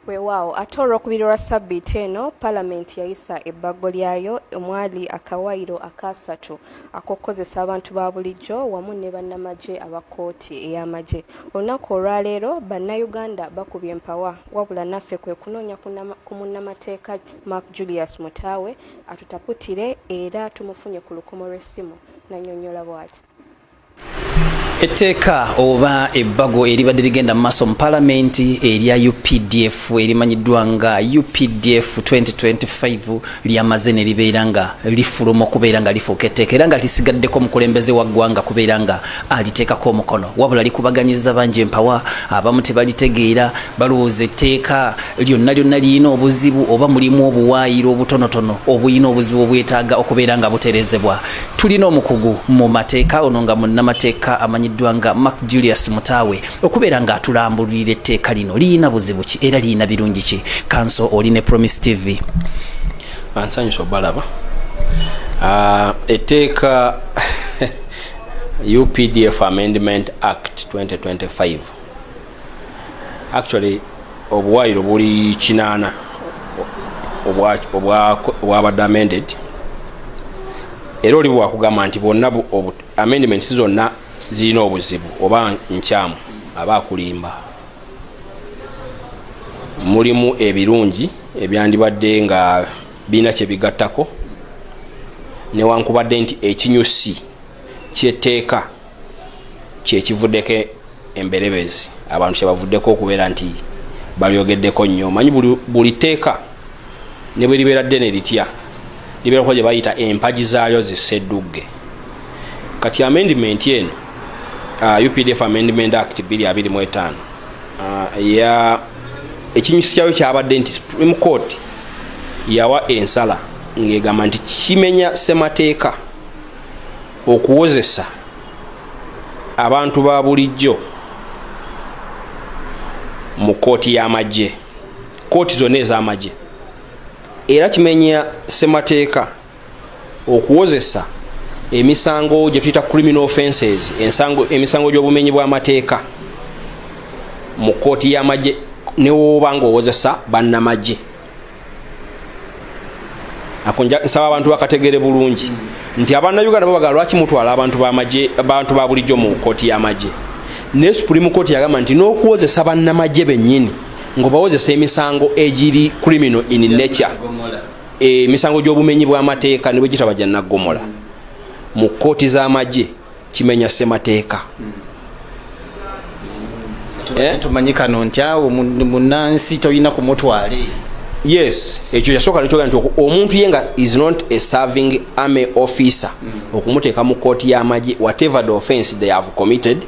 Weewaawo ate olw'okubiri lwa ssabbiiti eno palamenti yayisa ebbago lyayo omwali akawaayiro akaasatu ak'okukozesa abantu ba bulijjo wamu ne bannamagye aba kkooti ey'amagye. Olunaku olwaleero bannayuganda bakubye empawa wabula naffe kwe kunoonya ku munnamateeka Mark Julius Mutaawe atutaputire era tumufunye ku lukomo lw'essimu n'annyonnyola bwati. etteeka oba ebbago eribadde ligenda mu maaso mu palamenti erya updf erimanyiddwa nga updf 2025 lyamaze ne libeera nga lifuluma okubeera nga lifuuka etteeka era nga lisigaddeko omukulembeze wa ggwanga kubeera nga aliteekako omukono wabula likubaganyiza bangi empawa abamu tebalitegeera balowooza etteeka lyonna lyonna lirina obuzibu oba mulimu obuwaayiro obutonotono obulina obuzibu obwetaaga okubeera nga buterezebwa tulina omukugu mu mateeka ono nga munnamateeka amanyiddwa nga mark julius mutaawe okubeera nga atulambululira etteeka lino liyina buzibu ki era liyina birungi ki kanso oli ne promise tv ansanyusa obalaba ah, etteeka updf amendment act 2025 actually obuwaayiro buli kinaana obwabadde amended era oli bwewakugamba nti bwonna amendments zonna zirina obuzibu oba nkyamu aba akulimba mulimu ebirungi ebyandibadde nga birina kyebigattako newankubadde nti ekinyusi kyetteeka kyekivuddeko emberebezi abantu kyebavuddeko okubeera nti balyogeddeko nnyo manyi buli tteeka ne bwe libeera ddene litya libeerako gye bayita empagi zaalyo ziseddugge kati amendimenti eno uh, updf amendment act 225 uh, ekinyusi kyayo kyabadde nti supreme court yawa ensala ng'egamba nti kimenya ssemateeka okuwozesa abantu ba bulijjo mu kkooti y'amagye kkooti zonna ez'amagye era kimenya ssemateeka okuwozesa emisango gye tuyita criminal offenses emisango gy'obumenyi bw'amateeka mu kkooti y'amagye newooba ng'owozesa bannamagye nsaba abantu bakategere bulungi nti abanauganda babagala lwaki mutwala abantu bamagye abantu ba bulijjo mu kooti y'amagye naye supreme court yagamba nti n'okuwozesa bannamagye bennyini ngaobawozesa emisango egiri criminal in nature emisango gy'obumenyi bw'amateeka ne bwe gitaba gya naggomola mu kooti z'amagye kimenya semateeka eh? tumanyi kano nti awo munansi tolina kumutwale yes ekyo yasooka nekyoga nti omuntu ye nga is not a serving army officer mm. okumuteeka mu kooti y'amagye whatever the offense they have committed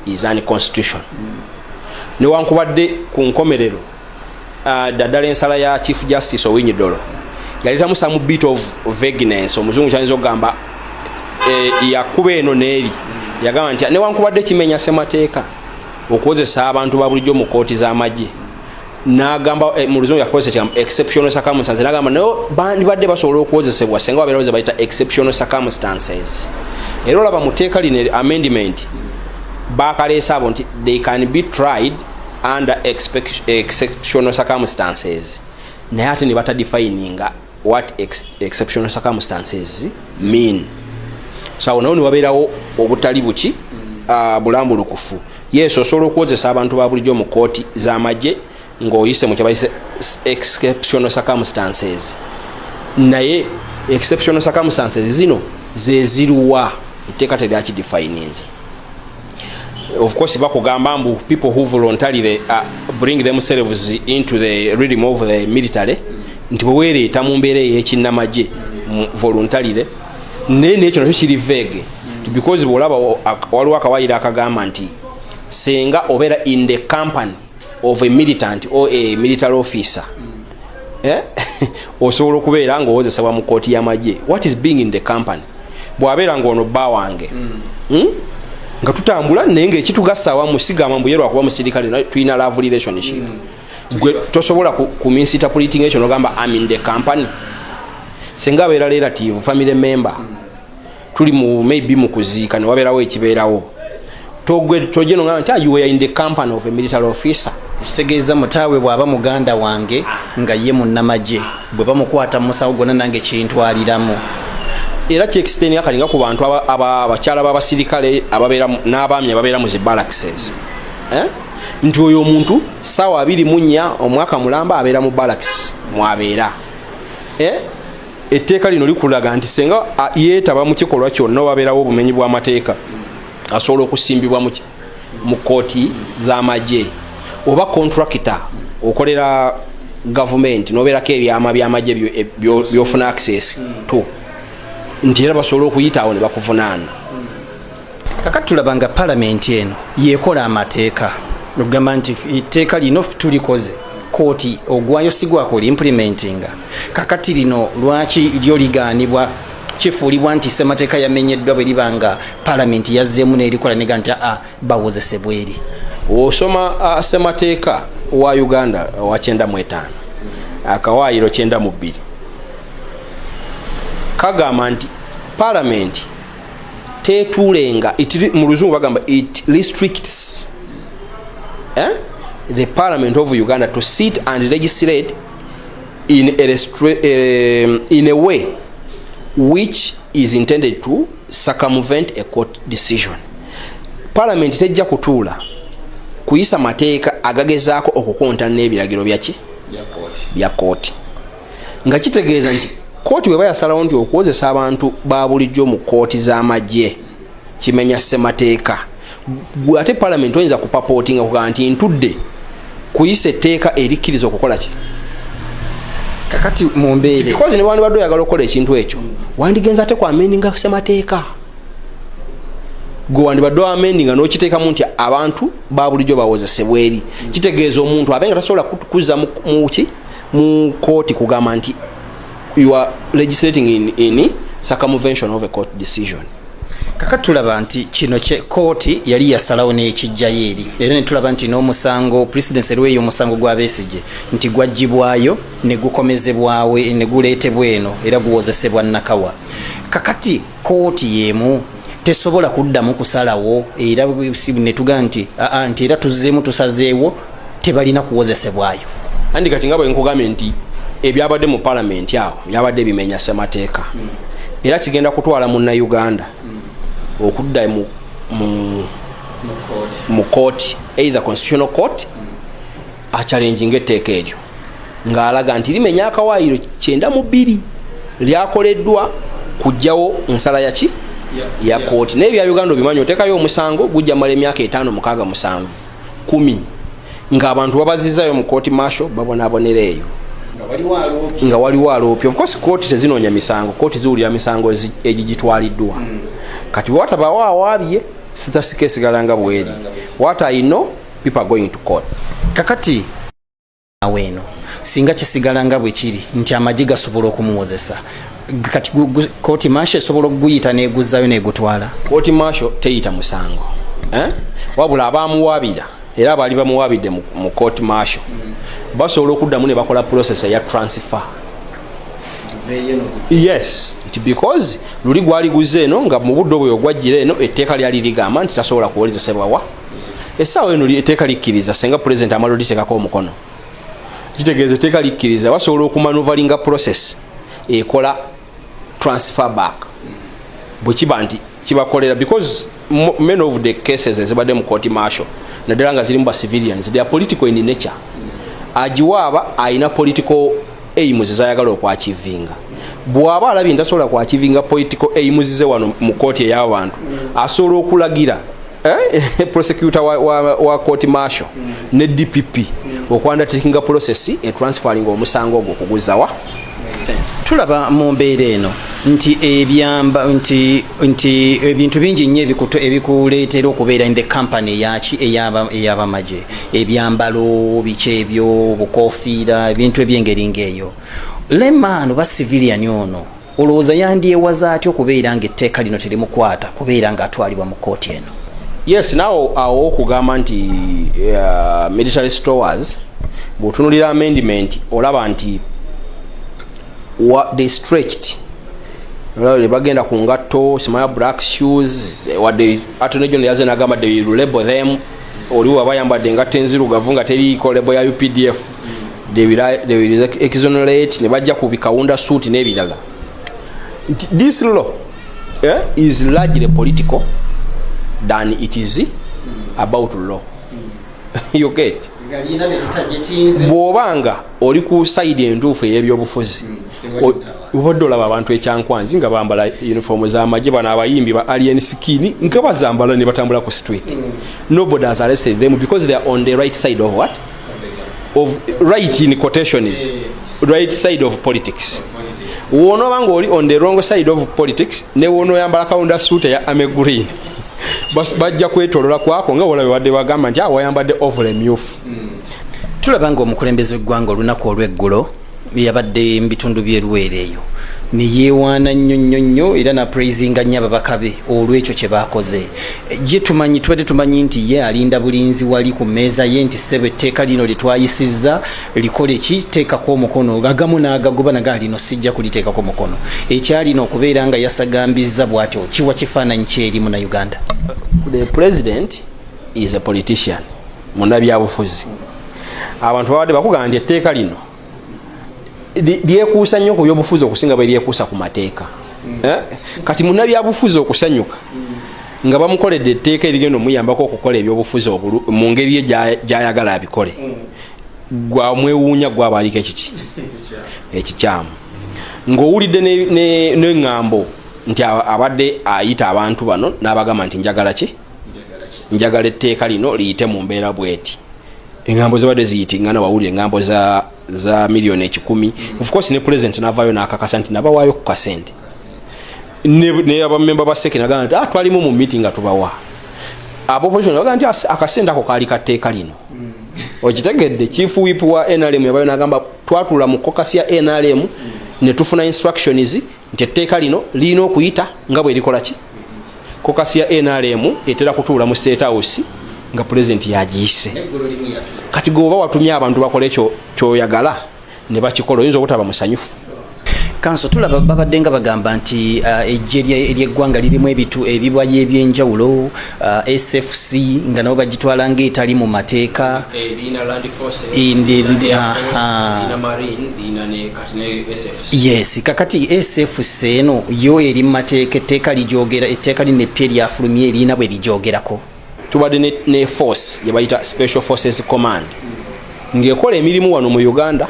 is unconstitution mm. newankubadde ku nkomerero daddala uh, ensala ya chief justice owinyidolo yaletamu some bit of vagueness omuzungu kyayinza okugamba eh, yakuba eno neeri yagamba nti newankubadde kimenya semateeka okukozesa abantu babulijjo mu kooti z'amagye nagamba eh, mu luzungu yakozesa kigambo exceptional circumstances nagamba naye bandibadde basobola okukozesebwa senga babeerawo ze bayita exceptional circumstances era olaba mu teeka lino amendment bakaleesa abo nti they can be tried under exceptional circumstances naye ate nebata defininga what ex exceptional circumstances mean so awo nawo niwabeerawo obutali buki uh, bulambulukufu yesu osobola okuwozesa abantu ba bulijjo mu kooti z'amagye ng'oyise mu kyabayise exceptional circumstances naye exceptional circumstances zino zeziruwa etteeka teryakidifininze of course bakugamba mbu people who voluntarily uh, bring themselves into the rhythm of the military nti bwewereeta mu mbeera eyekinnamagye voluntarily naye nekyo nakyo kiri vege because bwolaba waliwo akawayiro akagamba nti senga obeera in the company of a militant or a military officer eh? osobola okubeera ngaowozesebwa mu kooti yamagye what is being in the company bwabeera ngaono bba wange mm. hmm? nga tutambula naye ngaekitugasa awamu sigamba mbuye lwakuba musirikale tulina love relationship mm. gwe tosobola kuminsitapulitnga ekyo nogamba am in the company singa abeera relative family member mm. tuli mu maybe mu kuziika newabeerawo ekibeerawo tojeno nga nti ah, you were in the company of a military officer ekitegeeza mutaawe bw'aba muganda wange nga ye munnamagye bwe bamukwata mu musawo gwonna nange kintwaliramu era kyekisiteni akalinga ku bantu abakyala b'abasirikale ababeera n'abaami ababeera mu zi balaxes eh? nti oyo omuntu saawa abiri munya omwaka mulamba abeera mu balax mwabeera eh? etteeka lino likulaga nti senga yeetaba mu kikolwa kyonna wabeerawo obumenyi bw'amateeka asobola okusimbibwa mu kkooti z'amagye oba kontrakita okolera gavumenti nobeerako ebyama byamagye e, byofuna access to nti era basobola okuyitaawo ne bakuvunaana kakati tulaba nga palamenti eno yekola amateeka okugamba nti etteeka lino tulikoze kooti ogwayo sigwakola implimentinga kakati lino lwaki lyo ligaanibwa kifuulibwa nti semateeka yamenyeddwa bwe liba nga palamenti yazzeemu nerikola nega nti aa bawozesebwa eri osoma uh, semateeka wa uganda wa kyenda mu etaano akawaayiro kyenda mu bbiri kagamba nti palamenti tetuulenga mu luzungu bagamba it restricts eh? the parliament of uganda to sit and legislate in a, uh, in a way which is intended to circumvent a court decision parliament tejja kutuula kuyisa mateeka agagezaako okukontana n'ebiragiro byaki bya kooti nga kitegeeza nti kooti bweba yasalawo nti okuwozesa abantu ba bulijjo mu kooti z'amagye kimenya ssemateeka gwe ate palamenti oyinza kupapooti nga kugaa nti ntudde kuyisa etteeka erikkiriza okukola ki kakati mumbeerkozi ne wandibadde oyagala okukola ekintu ekyo wandigenza ate ku amendinga ssemateeka gwe wandibadde wamendi nga nokiteekamu nti abantu babulijjo bawozesebwa eri kitegeeza omuntu abe nga tasobola kuza muki mu kooti kugamba nti you are legislating in, in circumvention of a court decision kaka tulaba nti kino kye kooti yali yasalawo n'ekijjayo eri era netulaba nti n'omusango president erweyo omusango gwa besigye nti gwaggyibwayo ne gukomezebwawe ne guleetebwa eno era guwozesebwa nakawa kakati kooti yemu tesobola kuddamu kusalawo era netuga nti aa nti era tuzzeemu tusazeewo tebalina kuwozesebwayo andi kati nga bwenkugambye nti ebyabadde mu palamenti awo byabadde bimenya semateeka hmm. era kigenda kutwala munnauganda hmm. okudda mu kooti either constitutional court mm. akyalenjinga etteeka eryo ng'alaga nti limenya akawaayiro kyenda mu bbiri lyakoleddwa kujjawo nsala yaki ya kooti naye bya uganda obimanyi otekayo omusango gujja mala emyaka etaano mukaaga musanvu kumi ngaabantu babazizayo mu kooti masho babonabonera eyo nga waliwo aloopi ofcourse kooti tezinoonya misango kooti ziwulira misango egigitwaliddwa hmm. kati wewatabawo awaabye sitasikesigalanga bweri wataino people are going to court kakati aweeno singa kisigala nga bwe kiri nti amagi gasobola okumuwozesa kati kooti masho esobola okuguyita neguzzayo negutwala kooti masho teyita musango eh? wabula abamuwabira era abaali bamuwabidde mu kooti masho basobola okuddamu ne bakola process eya transfer yes nti because luli gwali guze eno nga mu budde obweyo gwajjira eno etteeka lyali ligamba nti tasobola kuwolezesebwawa essaawa eno eteeka likkiriza senga pulezidenti amala oliteekako omukono kitegeeza eteeka likkiriza basobola okumanuvalinga process ekola transfer back bwekiba nti kibakolera because many of the cases ezibadde mu court marshal naddala nga zirimu ba civilians they are political in nature agiwaaba alina political aims zayagala okwakivinga bwaba alabye ntasobola kwakivinga political aims ze wano mu kooti ey'abantu asobola okulagira eh, prosecutor wa, wa, wa court marshal mm. ne dpp mm. okwanda takinga process e transferring omusango ogwo kuguzawa tulaba mu mbeera eno nti ebyamba nti nti ebintu bingi nnyo ebikuto ebikuleetera okubeera in the company eyaki eyabamagye ebyambalo biki ebyo obukofiira ebintu ebyengeri ng'eyo lemaano ba civilian ono olowooza yandyewaza atya okubeera nga etteeka lino terimukwata kubeera nga atwalibwa mu kooti eno yes nawo awo okugamba nti uh, military stores bwotunulira amendment olaba nti they stretched bagenda ku ngatto simaya black shoes wadde atone gyono yaze nagamba de label them oli waba yambadde engatto enzirugavu nga teriiko label ya updf they will, they will exonerate ne bajja ku bikawunda suit n'ebirala nti this law eh, is largely political than it is about law you get bw'oba nga oli ku sayidi entuufu ey'ebyobufuzi obadde hmm, olaba abantu ekyankwanzi nga bambala uniform z'amagye bano abayimbi ba alien skin nga bazambala ne batambula ku street hmm. nobody has arrested them because they are on the right side of what of right in quotation is right side of politics wonoba nga oli on the wrong side of politics newonoyambala kawunda suuta ya ame green bajja kwetolola kwako nga wolabe wadde wagamba nti awayambadde ah, ovule myufu mm. tulaba nga omukulembeze weggwanga olunaku olweggulo yabadde mu bitundu by'eruweere eyo ne yeewaana nnyo nnyo nnyo era napraisinga nnyo ababaka be olw'ekyo kye baakoze ye tumanyi tubadde tumanyi nti ye alinda bulinzi wali ku mmeeza ye nti ssebo etteeka lino lye twayisizza likole ki teekako omukono agamu n'agagoba naga alino sijja kuliteekako mukono ekyalina okubeera nga yasagambizza bw'atyo kiwa kifaananyi kyeri muna uganda the president is a politician munabyabufuzi abantu babadde bakugamba nti etteeka lino lyekuusa nnyo ku byobufuzi okusinga bwe lyekuusa ku mateeka mm. eh? kati munabyabufuzi okusanyuka mm. nga bamukoledde etteeka erigenda omuyambako okukola ebyobufuzi mu ngeri ye gyayagala abikole mm. gwamwewuunya gwabaaliko ekiki ekikyamu ng'owulidde neŋŋambo nti abadde ayita abantu bano n'abagamba nti njagala ki njagala etteeka lino liyite mu mbeera bweti engambo zibadde ziyitingana wawulira engambo za za miliyoni ekikumi ofcourse ne president navayo nakakasa nti nabawaayo ku kasente naye abamemba ba seke nagamba nti ah, twalimu mu meeting nga tubawa abopposition bagaa nti akasente ako kaali katteeka lino mm. okitegedde chief wip wa nrm yabayo nagamba twatula mu kokasi ya nrm mm. netufuna instructions nti etteeka lino lirina okuyita nga bwerikolaki kokasi ya nrm etera kutuula mu state house nga pulezidenti yagiyise kati gwe oba watumye abantu bakole kyoyagala ne bakikola oyinza obutaba musanyufu kanso tulaba babadde nga bagamba nti uh, ejje ery'eggwanga lirimu ebitu ebibwayo ebyenjawulo uh, sfc nga nabo bagitwala ngaetali mu mateeka yes kakati sfc eno yo eri mumateeka etteeka lijogera etteeka lino eppya eryafulumye erina bwe lijogerako tubadde ne, ne force yebayita special forces command ngaekola emirimu wano mu uganda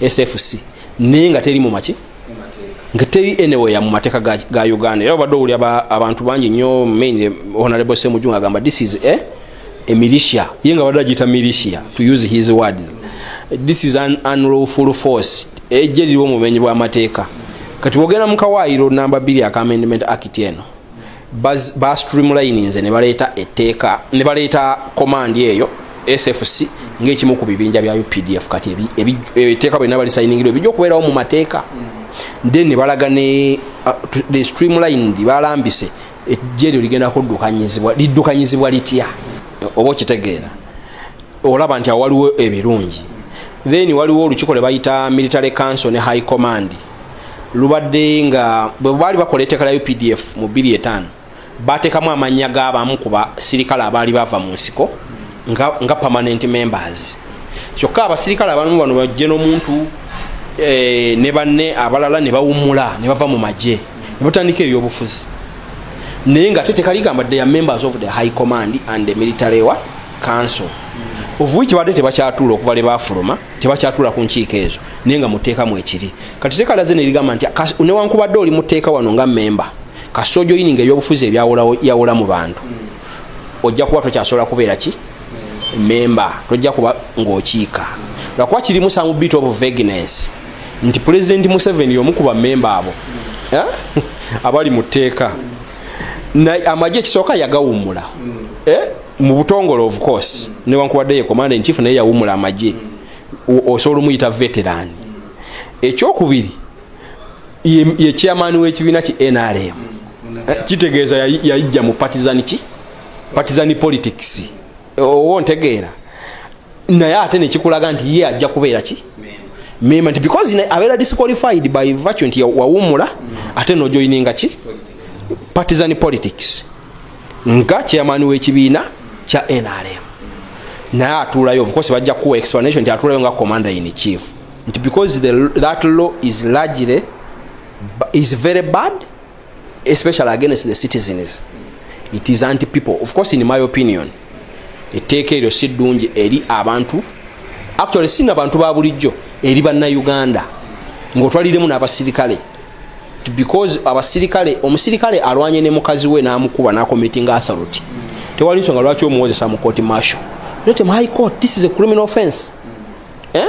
sfc naye nga teri mumaki nga teri anywhere mu mateeka ga, ga uganda era obadde owulira abantu bangi nnyo main honorable semujunga agamba this is a eh? emilisha ye nga badde agiyita militia to use his word this is an unlawful force ejja liriwo omumenyi bw'amateeka kati bwogenda mu kawaayiro namba bbiri aka amendment act eno ba streamlininze ne baleeta etteeka ne baleeta komandi eyo sfc ng'ekimu ku bibinja bya updf kati etteeka byonna balisayiningirwa ebijja okubeerawo mu mateeka then ne balaga ne uh, the streamlined balambise ejje lyo ligenda kuddukanyizibwa liddukanyizibwa litya oba okitegeera olaba nti awaliwo ebirungi then waliwo olukiko lwe bayita military council ne high command lubadde nga bwe baali bakola eteeka lya updf mu biri etaano bateekamu amannya g'abamu ku basirikale abaali bava mu nsiko nga, nga permanent members kyokka abasirikale abamu bano bajje n'omuntu eh, ne banne abalala ne bawumula ne bava mu magye nebatandika ebyobufuzi naye nga ate tekaligamba the members of the high command and the military wa council ovuwi kibadde tebakyatuula okuva lebafuluma tebakyatuula ku nkiiko ezo naye nga muteekamu ekiri kati tekalaze nerigamba nti newankubadde oli muteeka wano nga memba kasita ojoyininga ebyobufuzi ebyawula mu bantu ojja kuba tokyasobola kubeera ki memba tojja kuba ngaokiika lwakuba kirimu samubiit of vagness nti pulezidenti museveni y'omu ku bamemba abo eh? abali mu tteeka amagye ekisooka yagawummula eh? mu butongole of course newankubadde ye komanda enkifu naye yawummula amagye osobola omuyita veteran ekyokubiri ye chairman w'ekibiina ki nrm eh, kitegeeza yayijja mu partizan ki partizan politics owo ntegeera naye ate nekikulaga nti ye ajja kubeera ki mema nti because abeera disqualified by virtue nti wawumula mm. ate nojoininga ki partisan politics nga chairman wekibiina kya nrm naye atuulayo ofcourse bajja kuwa explanation nti atuulayo nga commander in chief nti because the, that law is largely is very bad especially against the citizens it is anti people of course in my opinion etteeka eryo si ddungi eri abantu actually si nabantu ba bulijjo eri bannauganda ngaotwaliremu n'abasirikale because abasirikale omusirikale alwanye ne mukazi we n'amukuba n'akomitinga asaloti tewali nsonga lwaki omuwozesa mu kooti masho not my court this is a criminal offense eh?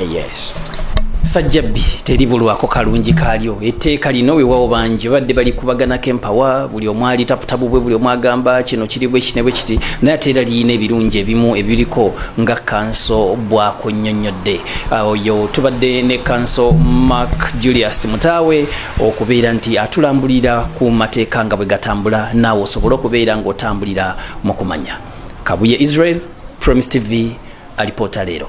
yes sajjabbi teri bulwako kalungi kaalyo etteeka lino wewawo bangi badde balikubaganako empawa buli omu ali tabutabu bwe buli omu agamba kino kiri bwekiti ne bwekiti naye ate era liyina ebirungi ebimu ebiriko nga kanso bwako nnyonnyodde ah, oyo tubadde ne kanso mark julius mutaawe okubeera nti atulambulira ku mateeka nga bwe gatambula naawe osobole okubeera ng'otambulira mu kumanya kabuye israel promis tv alipoota leero